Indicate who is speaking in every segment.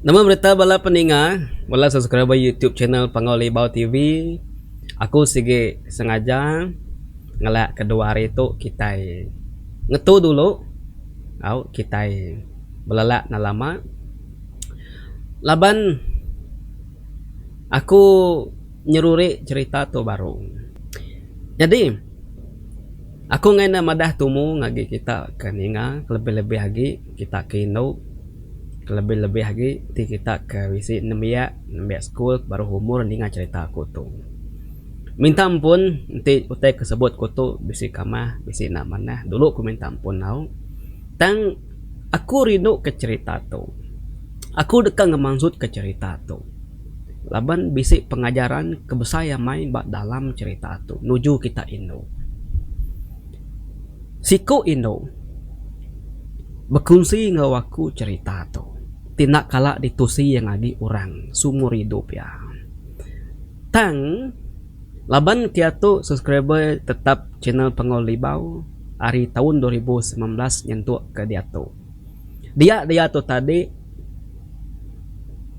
Speaker 1: Nama berita bala peninga, bala subscriber youtube channel Panggau Libau TV. Aku sigi sengaja ngelak ke dua hari tu kitai ngetu dulu au kitai belelak enda lama laban aku nyeruri cherita tu baru. Nyadi aku ngena madah tumu ngagai kita ke ninga kelebih-lebih agi. kita ke indu kelebih-lebih agi ti kita ke bisi nembiak nembiak school baruh umur ninga cherita ku tu minta ampun enti utai ke sebut ku tu bisi kamah bisi enda manah dulu ku minta ampun tau tang aku rindu ke cherita tu aku deka ngemansut ke cherita tu laban bisi pengajaran ke besai amai ba dalam cherita tu nuju kita indu. Siku indu bekunsi enggau aku cherita tu ti enda kala ditusi iya ngagi orang seumur idup iya. Tang laban kiatu subscriber tetap channel Panggau Libau ari taun dua ribu semilan belas nyentuk ke diatu. Dia diatu tadi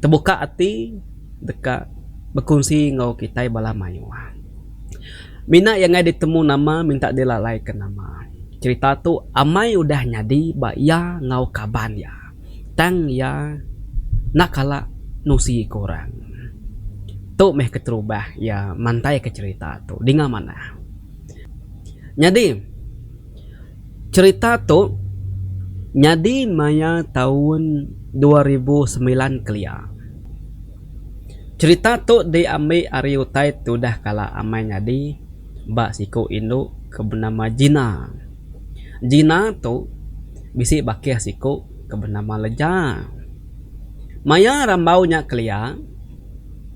Speaker 1: tebuka ati deka bekunsi enggau kitai bala mayuh. Mina iya ngagai ditemu nama minta dilalaika nama. Cherita tu amai udah nyadi ba iya enggau kaban iya tang iya enda kala nusi ku orang. Tu meh keterubah iya mantaika cherita tu dinga manah. Nyadi. Cherita tu nyadi maya taun dua ribu semilan kelia. Cherita tu diambi ari utai ti udah kala amai nyadi ba siku indu ke benama Gina. Gina tu bisi bakih siku ke benama Leja. Maya rambau nya kelia.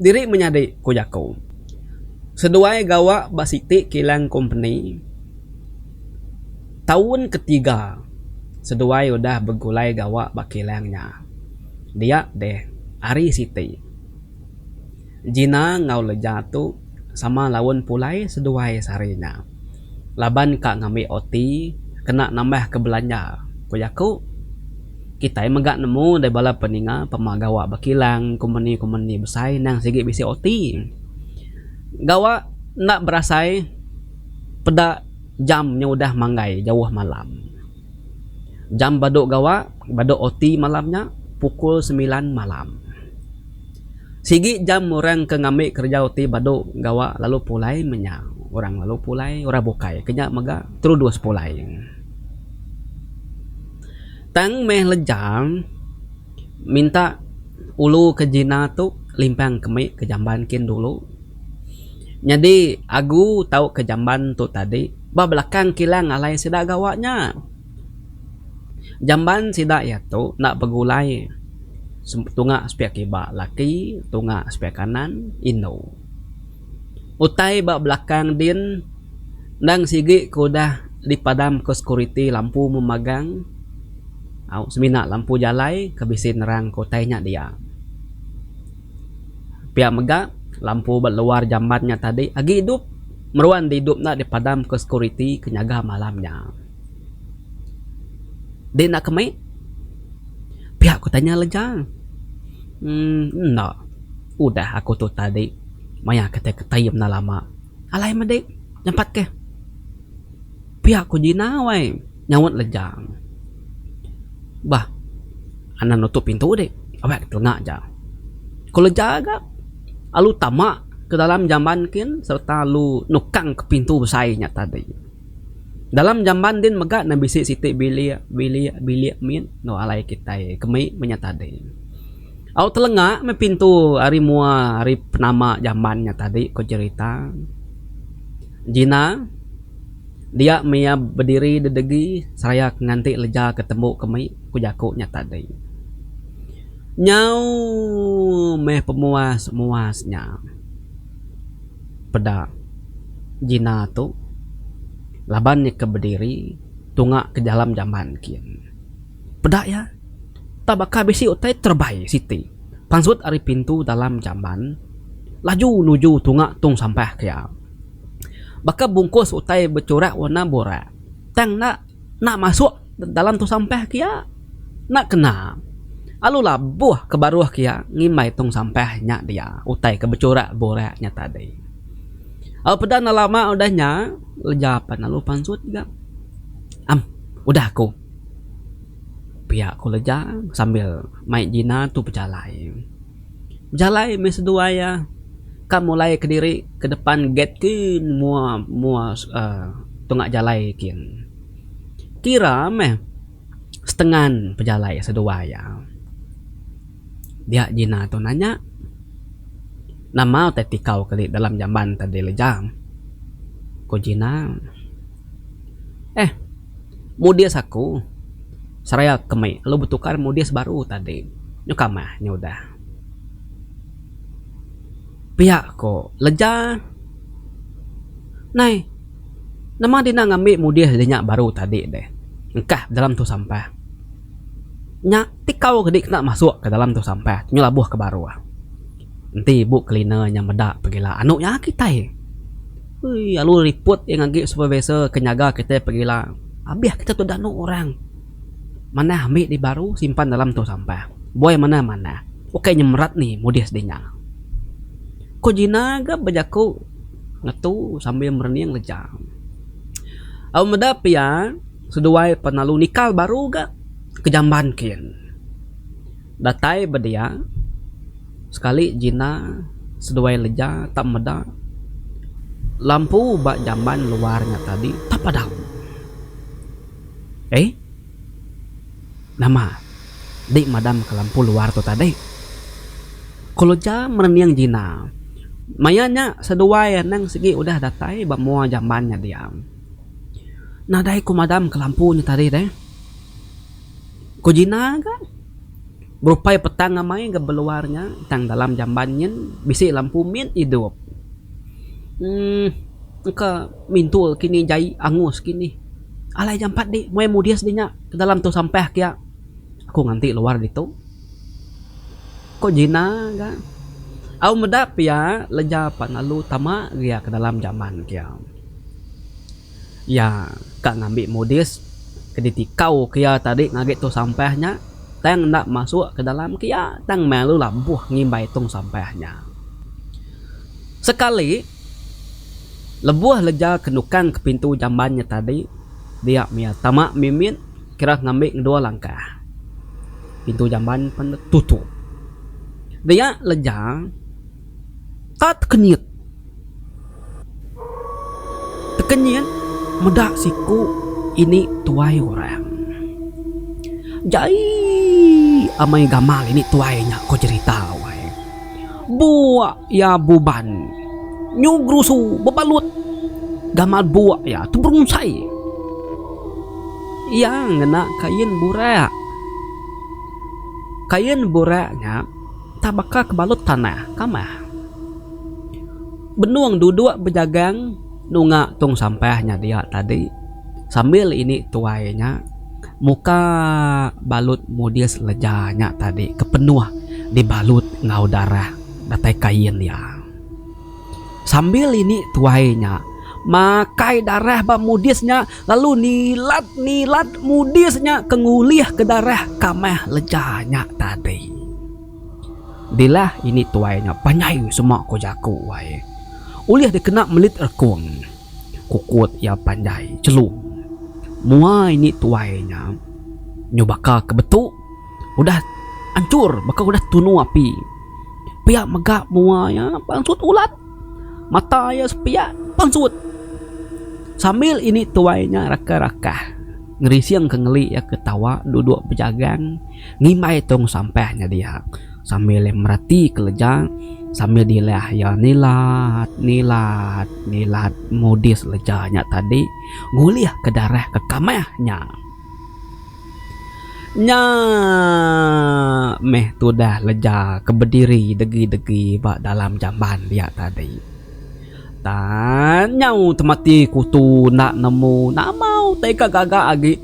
Speaker 1: Diri menyadi, ku jaku. Seduai gawa ba siti kilang kompeni taun ketiga seduai udah begulai gawa ba kilang nya. Dia deh, ari siti Gina enggau Leja tu sama laun pulai seduai sehari nya. laban ka ngambi OT kena nambahka belanja, ku iya ku. Kitai mega nemu deh bala peninga pemah gawa ba kilang, kompeni-kompeni besai endang sigi bisi OT. Gawa enda berasai peda jam nya udah manggai jauh malam. Jam badu gawa, badu OT malam nya pukul semilan malam. Sigi jam orang ke ngambi kerejau ti badu gawa lalu pulai menya orang lalu pulai orang bukai ke nya mega terudus pulai. Tang meh lejang minta ulu ke jina tu limpang ke mih ke jamban kin dulu nyadi agu tau ke jamban tu tadi ba belakang kilang alai sida gawa nya. Jamban sida iya tu enda begulai tunga sepiak kiba laki tunga sepiak kanan indu. Utai ba belakang din endang sigi ke udah dipadam ke security lampu meh magang au semina lampu jalai ke bisi nerang ke utai nya dia. Pia mega lampu ba luar jamban nya tadi agi idup meruan enda dipadam ke security ke nyaga malam nya. Deh enda ke meh. Pia ku tanya Lejang. Uhh enda. Udah aku tu tadi maya ke tai ke Taib enda lama. Alai meh deh. Jampat ke. Pia ku Jina wai. Nyaut Lejang. Bah anak nutup pintu deh. Awak ke telanga aja. Ku Lejang ga lalu tama ke dalam jamban kin serta lalu nukang ke pintu besai nya tadi. Dalam jamban din mega ne bisi siti bilik, bilik, bilik mit enggau alai kitai ke mei menya tadi. Au telenga meh pintu ari mua ari penama jamban nya tadi ko jerita. Jina dia meh iya bediri dedegi seraya ke nganti leja ke tembu ke mei ku jaku nya tadi. Nyau meh pemuas muas nya. peda Gina tu laban nya ke bediri tunga ke jalam jamban kin. Peda iya, tau baka bisi utai terbai siti pansut ari pintu dalam jamban laju nuju tunga tung sampah ke iya. Baka bungkus utai bechurak warna burak tang enda enda masuk. dalam tong sampah kia enda kena lalu labuh ke baruh kia ngimbai tong sampah nya dia utai ke bechurak burak nya tadi. Au peda enda lama udah nya leja pan lalu pansut ga am udah ku pia ku leja sambil mai Gina tu bejalai. Bejalai meh seduai iya ka mulai kediri ke depan gate ti mua mua uhh tunga jalai kin. Kira meh setengan pejalai seduai iya. Dia Gina tu nanya, Nama utai ti kau keli dalam jamban te dileja? Ku Gina, Eh, mudis aku seraya ke mei lalu betukar mudis baru tadi. Nyuka meh nya udah. Pia ko leja. Nai. Nama dina ngambi mudih diri nya baru tadi deh. Engkah dalam tu sampah. Nya tikau ke dikena masuk ke dalam tu sampah tu nyelabuh ke baruh. Enti ibu cleaner nya meda pegila anu nya kitai. Ui lalu report iya ngagi supervisor ke nyaga kitai pegila. Abih kita tu danu orang. Manah ambi di baru simpan dalam tong sampah. Buai manah manah. Ukai nyemerat nih mudih sidi nya. Ko jina ga bejaku. ngetu sambil merening lejam. Au meda pia, seduai penalu nikal baru ga ke jamban kin. Datai ba dia, sekali jina seduai leja tak meda lampu ba jamban luar nya tadi tak padam. Eii. Nama? Di madam ke lampu luar tu tadi? Keluja merening Gina. Maya nya seduai anang sigi udah datai ba mua jamban nya dia. Nadai ku madam ke lampu nya tadi deh? Ku Gina ga. Berupai petang amai ga beluar nya tang dalam jamban nyin bisi lampu mit idup. Emm. Engka mintul kinih jai angus kinih. Alai ga empat dik meh mudis dik nya ke dalam tu sampah kia aku nganti luar ditu ko Gina ga au meda pia leja pan lalu tama gia ke dalam jaman kia iya ka ngambi mudis ke ditikau kia tadi agi tong sampah nya tang enda masuk ke dalam kia tang meh lalu labuh ngimbai tong sampah nya sekali. Lebuh leja ke nukang ke pintu jamban nya tadi, dia mia tama mimit kira ngambi ngeduwa langkah. Pintu jamban pen tutup. Dia leja ka tekenyit. Tekenyit meda siku ini tuai orang. Jai amai gamal ini tuai nya ko jerita wai. Buak iya buban nyu gerusu bebalut gamal buak iya tu berungsai. Iya ngena kain burak. Kain burak nya tabaka ke balut tanah kamah. Benung duduk bejagang. Nunga tung sampah nya dia tadi sambil ini tuai nya muka balut mudis leja nya tadi ke penuh dibalut enggau darah datai kain iya. Sambil ini tuai nya makai darah ba mudis nya lalu nilat nilat mudis nya ke ngulih ke darah kamah leja nya tadi. Dilah ini tuai nya panjai semak ko jaku ai. Ulih dikena melit rekung, kukut iya panjai celung. Mua ini tuai nya nyu baka ke betu udah anchur baka udah tunu api. Pia mega mua iya pansut ulat. Mata iya sepiak pansut. Sambil ini tuai nya rakah-rakah. ngerising ke ngeli iya ke tawa duduk bejagang ngimbai tong sampah nya dia sambil iya mereti kereja sambil dilah iya nilat nilat nilat modis leja nya tadi ngulih ke darah ke kamah nya. Nya meh tudah leja ke bediri degi degi ba dalam jamban dia tadi. Tang nyau temati kutu enda nemu nama utai ka gaga agi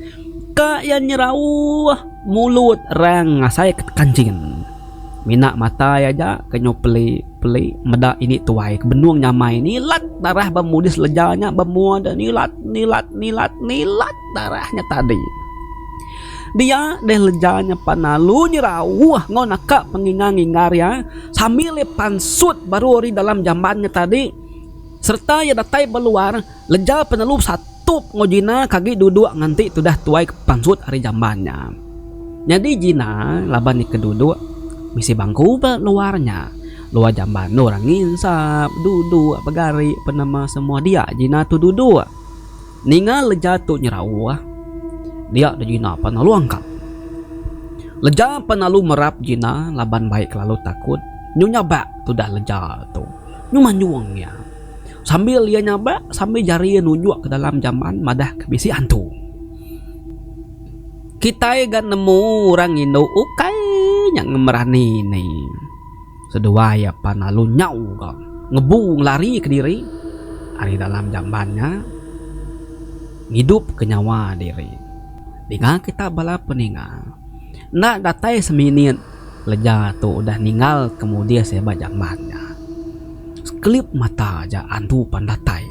Speaker 1: ka iya nyerauh mulut rang ngasai ka kancing. Mina mata iya aja ke nyau peli peli meda ini tuai ke benung nyamai nilat darah ba mudi sleja nya ba mua de nilat nilat nilat nilat darah nya tadi. Dia deh leja nyepan alu nyerauh enggau naka penginga nginggar iya sambil iya pansut baru ari dalam jamban nya tadi sereta iya datai ba luar leja penelu besatup enggau Gina ke agi duduk nganti tudah tuai ke pansut ari jamban nya. Nyadi Gina laban iya ke duduk bisi bangku ba luar nya. Luar jamban tu orang nginsap, duduk, begari, penema semua dia Gina tu duduk. Ninga leja tu nyerau ah. Dia da jina pan alu angkat. Leja pan alu merap jina laban baik kelalu takut nyu nyabak tudah leja tu nyu manjung iya. Sambil iya nyabak sambil jari iya nunjuk ke dalam jamban madah ke bisi hantu. Kitai ga nemu orang indu ukai nya ngemerani ni. Seduai iya pan lalu nyau ga ngebu ngelari ke diri ari dalam jamban nya ngidup ke nyawa diri. Ninga kita bala peninga, enda datai seminit leja tu udah ninggal ke mudih sia ba jamban nya. Sekelip mata aja andu pan datai.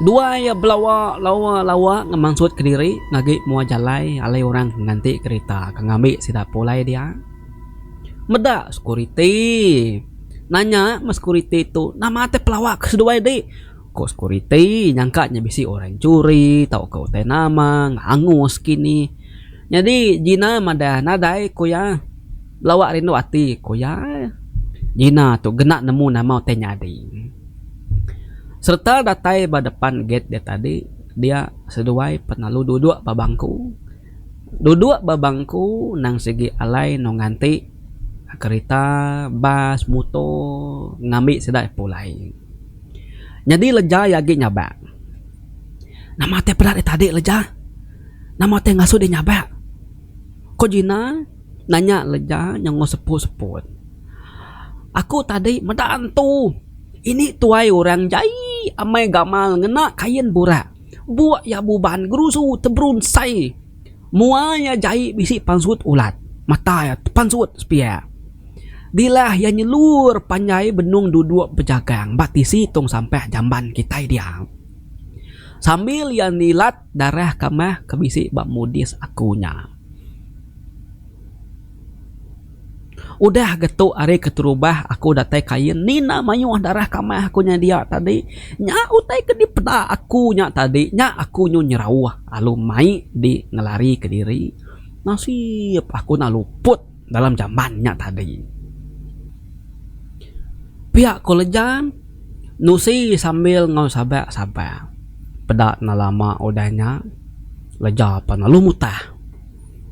Speaker 1: Duai iya belawa lawa lawa ngemansut ke diri ngagi mua jalai alai orang ke nganti kerita ke ngambi sida pulai dia. Meda sekuriti. Nanya meh sekuriti tu, nama ti pelawa ke seduai ti? Ku sekuriti, nyangka nya bisi orang nyuri tauka utai nama angus kini. Nyadi Gina madah, nadai ku iya. Belawa rindu ati ku iya. Gina tu ngena nemu nama utai nyadi. Sereta datai ba depan gate dia tadi, dia seduai penalu duduk ba bangku. duduk ba bangku nang sigi alai enggau nganti kerita, bas, muto ngambi sida pulai. Nyadi leja iya agi nyabak. Nama ti peda dih tadi leja? Nama ti ngasu dih nyabak? Ko Gina nanya leja nyengol seput-seput. Aku tadi meda antu. Ini tuai orang jai amai gamal ngena kain burak. Buk iya buban gerusu teberunsai mua iya jai bisi pansut ulat. Mata iya tepansut sepiak. Dilah iya nyelur panjai benung duduk bejagang ba tisi tung sampah jamban kitai dia. Sambil iya nilat darah kamah ke bisi ba mudis aku nya. Udah ga tu ari keterubah aku datai Kain Nina mayuh darah kamah aku nya dia tadi nya utai ke dipeda aku nya tadi nya aku nyu nyerauh lalu mai di ngelari ke diri nasib aku enda luput dalam jamban nya tadi pia ko lejan nusi sambil enggau sabar sabar peda enda lama udah nya leja pan lalu mutah.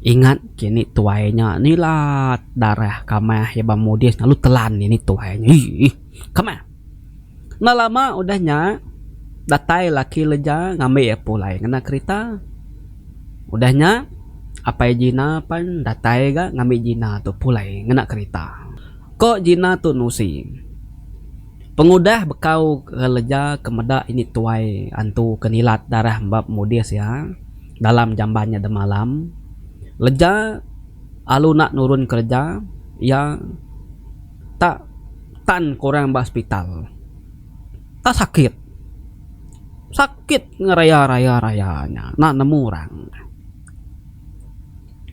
Speaker 1: Ingat kini tuai nya nilat darah kamah iya ba mudis lalu telan ini tuai nya eii kamah. Enda lama udah nya datai laki leja ngambi iya pulai ngena kerita. Udah nya apai Gina pan datai ga ngambi Gina tu pulai ngena kerita. Ko Gina tu nusi pengudah bekau leja ke meda ini tuai antu ke nilat darah ba mudis iya. Dalam jamban nya demalam, leja alu enda nurun kereja, iya tak tan ke orang ba sepital. Tak sakit. Sakit ngeraya-raya-raya nya enda nemu orang.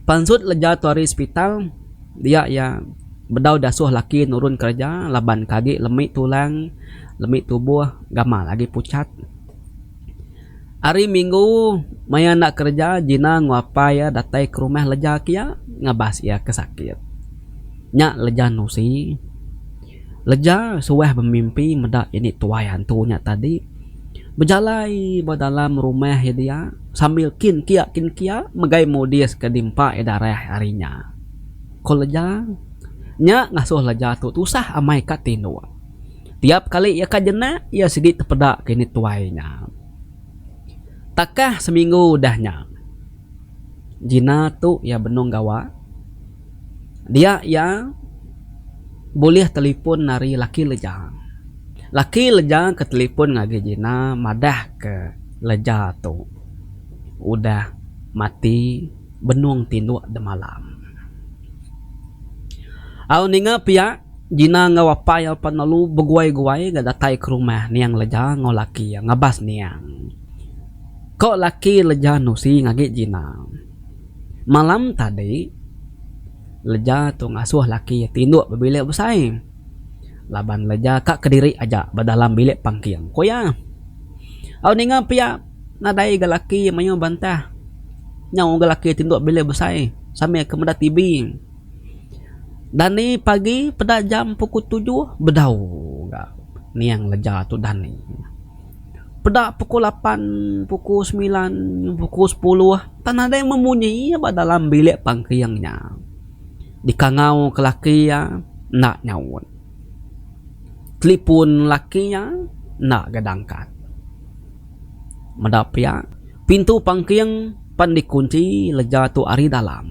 Speaker 1: Pansut leja tu ari sepital, dia iya bedau diasuh laki nurun kereja laban ke agi lemi tulang, lemi tubuh gamal agi pucat. Ari minggu maya enda kereja Gina enggau apai iya datai ke rumah leja ke iya ngabas iya ke sakit. Nya leja nusi. Leja suah bemimpi meda ini tuai hantu nya tadi bejalai ba dalam rumah iya dia sambil kin kia kin kia megai modis ke dimpa iya darah hari nya. Ku leja nya ngasuh leja tu tusah amai ka tinduk. Tiap kali iya ka jenak, iya sigi tepeda kini tuai nya. Takah seminggu udah nya, Gina tu iya benung gawa. Dia iya bulih telefon ari laki Leja. Laki Leja ke telefon ngagai Gina madahka Leja tu udah mati. benung tinduk demalam. Au ninga pia, Gina enggau apai iya pan lalu beguai-guai ga datai ke rumah niang Leja enggau laki iya ngabas niang. Ko laki Leja nusi ngagi Gina. Malam tadi, Leja tu ngasuh laki iya tinduk ba bilik besai laban Leja ka kediri aja ba dalam bilik pangking, ku iya. Au ninga pia. Nadai ga laki mayuh bantah nyau ga laki ti dua bilik besai sambil ke meda TV. Dani pagi peda jam pukul tujuh bedau ga niang leja tu dani. Peda pukul lapan pukul semilan pukul sepuluh tak nadai meh munyi iya ba dalam bilik pangking nya dikangau ke laki iya enda nyaut. Telipun laki nya enda ga dangkat. Meda pia, pintu pangking pan dikunchi leja tu ari dalam.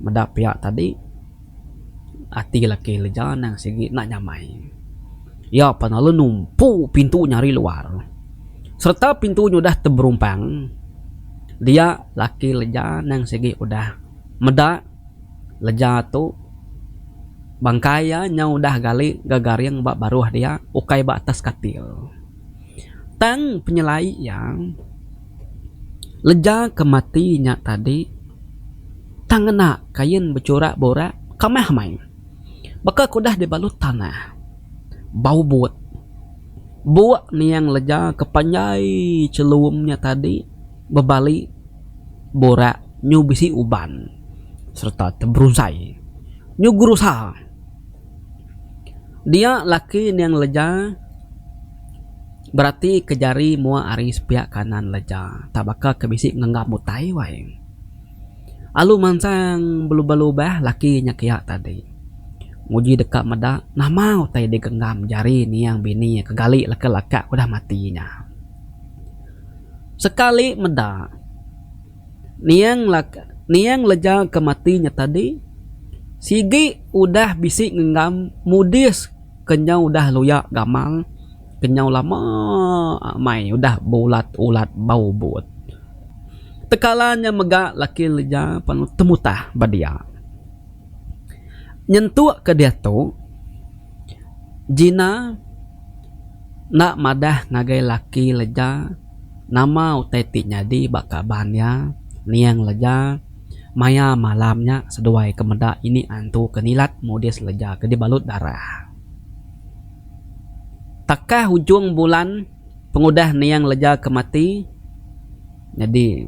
Speaker 1: Meda pia tadi, ati laki leja ndang sigi enda nyamai. Iya pan lalu numpu pintu nya ari luar. Sereta pintu nya udah teberumpang, dia laki leja ndang sigi udah meda. leja tu bangkai iya nyau udah gali ga garing ba baruh dia ukai ba atas katil. Tang penyelai iya leja ke mati nya tadi tang ngena kain bechurak burak kamah meh baka ke udah dibalut tanah bau but. Buk niang leja ke panjai chelum nya tadi. bebali borak nyu bisi uban sereta teberusai nyu gerusa. Dia laki niang leja berati ke jari mua ari sepiak kanan leja tak baka ke bisi ngenggam utai wai. Alu mansang belubah-lubah laki nya kia tadi nguji deka meda nama utai digenggam jari niang bini ke gali leka-leka ke udah mati nya. Sekali meda, niang lega ke mati nya tadi sigi udah bisi ngenggam mudis ke nyau udah luya gamal ke nyau lama amai udah beulat-ulat bau but. Tekala nya mega laki lega pan temutah ba dia. Nyentuk ke diatu Gina. Enda madah ngagai laki leja nama utai ti nyadi ba kaban iya, niang leja maya malam nya seduai ke meda ini antu ke nilat mudis leja ke dibalut darah. Takah ujung bulan pengudah niang leja ke mati. Nyadi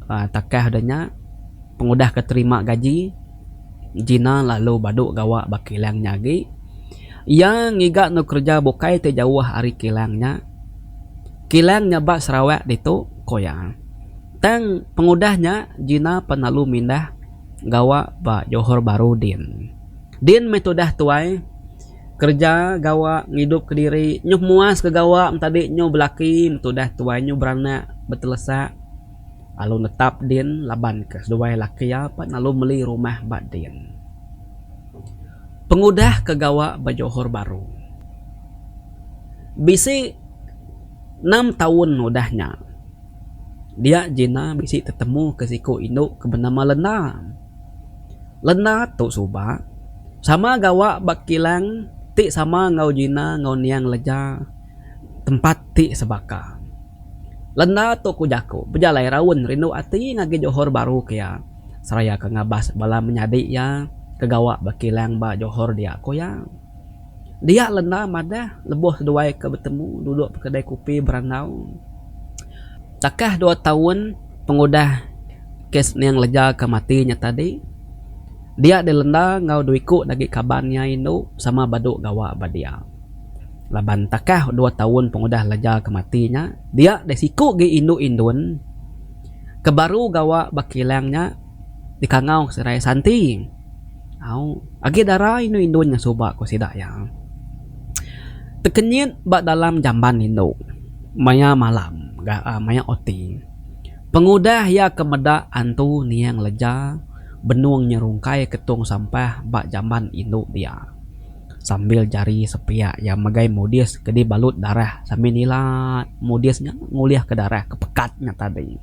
Speaker 1: takah da nya pengudah ke terima gaji Gina lalu badu gawa ba kilang nya agi. Iya ngiga endur kereja bukai ti jauh ari kilang nya. Kilang nya ba Sarawak ditu, ku iya. Tang pengudah nya Gina pan lalu mindah gawa ba Johor Bahru din. Din meh tudah tuai. kerja gawa ngidup ke diri nyuh muas ke gawa tadi nyuh belaki tudah tuai nyuh beranak betelesa lalu netap din laban ke seduai laki iya pa lalu meli rumah ba din pengudah ke gawa ba johor bahru bisi enam taun udah nya dia Gina bisi tetemu ke siku indu ke benama lena. Lena tu suba sama gawa ba kilang ti sama enggau Gina enggau Niang Leja tempat ti sebaka. Lena tu ku jaku bejalai raun rindu ati ngagai Johor Bahru ke iya seraya ke ngabas bala menyadi iya ke gawa ba kilang ba Johor dia ku iya. Dia lenda madah lebuh seduai ke betemu duduk ba kedai kopi berandau. Takah dua taun pengudah kes nya ngeleja ke mati nya tadi, dia dilenda enggau dua iku agi kaban iya indu sama badu gawa ba dia. Laban takah dua taun pengudah leja ke mati nya, dia disiku agi indu indun ke baru gawa ba kilang nya. dikangau serai Santi. Au, agi dara indu indun nya suba ku sida iya. Tekenyit ba dalam jamban indu maya malam ga maya oti. Pengudah iya ke meda antu niang leja benung nya rungkai ketung sampah ba jamban indu dia sambil jari sepiak iya megai mudis ke dibalut darah sambil nila mudis nya ngulihka darah ke pekat nya tadi.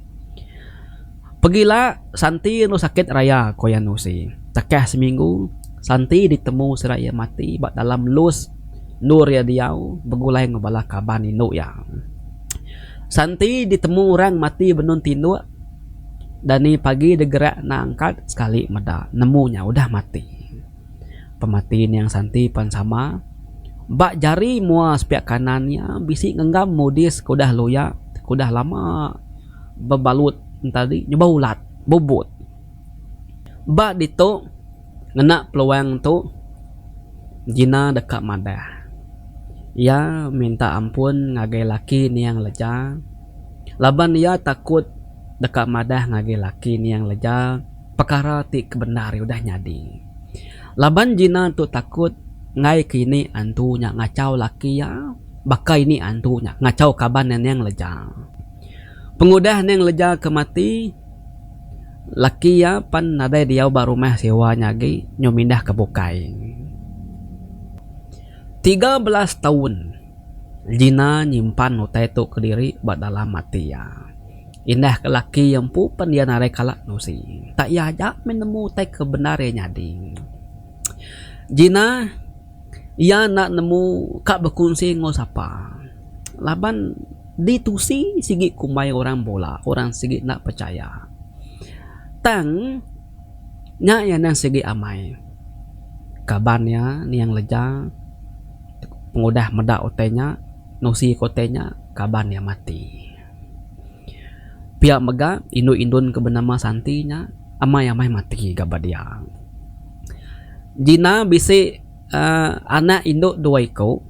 Speaker 1: Pegila Santi enu sakit raya ko iya enu si. Tekah seminggu Santi ditemu sida iya mati ba dalam lus endur iya diau begulai enggau bala kaban indu iya. Santi ditemu orang mati benun tinduk dani pagi degerak enda angkat sekali meda nemu nya udah mati. Pemati niang Santi pan sama ba jari mua sepiak kanan iya bisi ngenggam mudis ke udah luyak ke udah lama. bebalut entadi nyuba ulat, bubut. Ba ditu ngena peluang tu Gina deka madah. Iya minta ampun ngagai laki niang leja laban iya takut deka madah ngagai laki niang leja pekara ti kebendar udah nyadi. Laban Gina tu takut ngaika ini antu nya ngachau laki iya baka ini antu nya ngachau kaban iya niang leja. Pengudah nya ngeleja ke mati laki iya pan nadai diau ba rumah sewa nya agi nyau mindah ke bukai. Tiga belas taun Gina nyimpan utai tu kediri ba dalam ati iya. Indah ke laki iya empu pan iya nadai kala nusi. Tak iya aja meh nemu utai ke bendar iya nyadi. Gina iya enda nemu ka bekunsi enggau sapa laban. Ditusi sigi kumbai orang bula, orang sigi enda pechaya. Tang nya iya endang sigi amai. Kaban iya niang leja pengudah meda utai nya, nusi ke utai nya, kaban iya mati. Pia mega indu indun ke benama Santi nya amai amai mati ga ba dia. Gina bisi. anak indu dua iku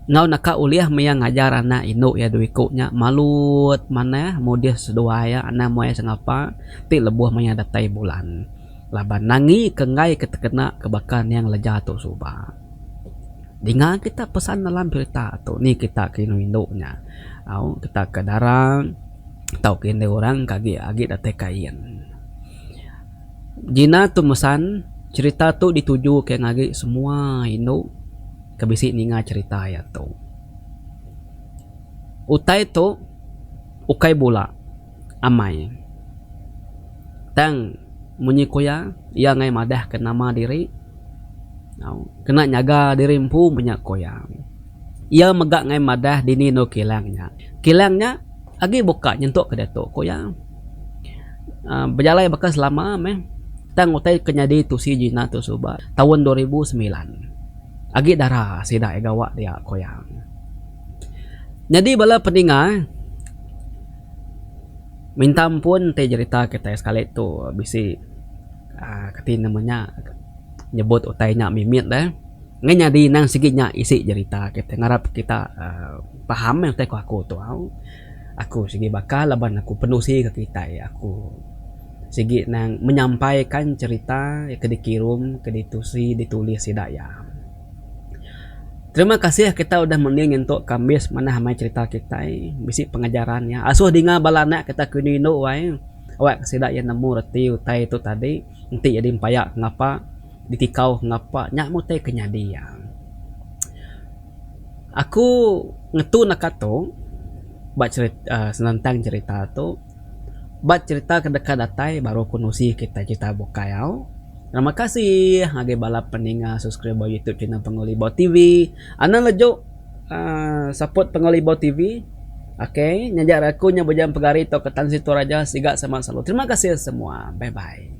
Speaker 1: enggau naka ulih maya ngajar anak indu iya dua iku nya malut manah mudih seduai iya anang muai sengapa ti lebuh maya datai bulan laban nangi ke enggai ke tekena ke baka nang leja tu suba. Dinga kita pesan dalam cherita tu ni kita ke indu indu nya au kita ke dara tauka indu orang ke agi datai ke ain. Gina tu mesan, cherita tu ditujuka ngagai semua indu ke bisi ninga cherita iya tu. Utai tu ukai bula amai. Tang munyi ku iya, iya enggai madahka nama diri. Kena nyaga diri empu menya ku iya. Iya mega ngai madah dini endur kilang nya. Kilang nya agi buka nyentuk ke diatu, ku iya. uhh Bejalai baka selama meh tang utai ke nyadi tusi Gina tu suba taun dua ribu semilan. Agi dara sida iya gawa dia, ku iya. Nyadi bala peninga minta ampun ti jerita kitai sekali tu bisi uhh kati nama nya. nyebut utai nya mimit deh ngai nyadi endang sigi nya isi jerita kita ngarap kita uhh paham meh utai ku aku tu au aku sigi baka laban aku penusi ka kitai aku sigi nang menyampaikan cerita ke dikirum ke ditusi ditulis sida iya. Terima kasih kita udah mening nyentu kambis manah amai cerita kitai bisi pengajaran nya asuh dinga bala anak kita kini inu ai awak sida iya nemu reti utai tu tadi. Enti jadi empaya ke ngapa ditikau ke ngapa nya meh utai ke nyadi iya. Aku ngetu naka tu ba cherita senentang cherita tu ba cherita ke deka datai baru aku nusi kita cherita bukai au. Terima kasih ngagai bala peninga subscriber youtube channel Pangu Libau TV. Anang leju. Support Pengawa Libau TV ok nya ja aku nya beja pegari tok ke tan situ raja siga semak selalu terima kasih semua bye bye.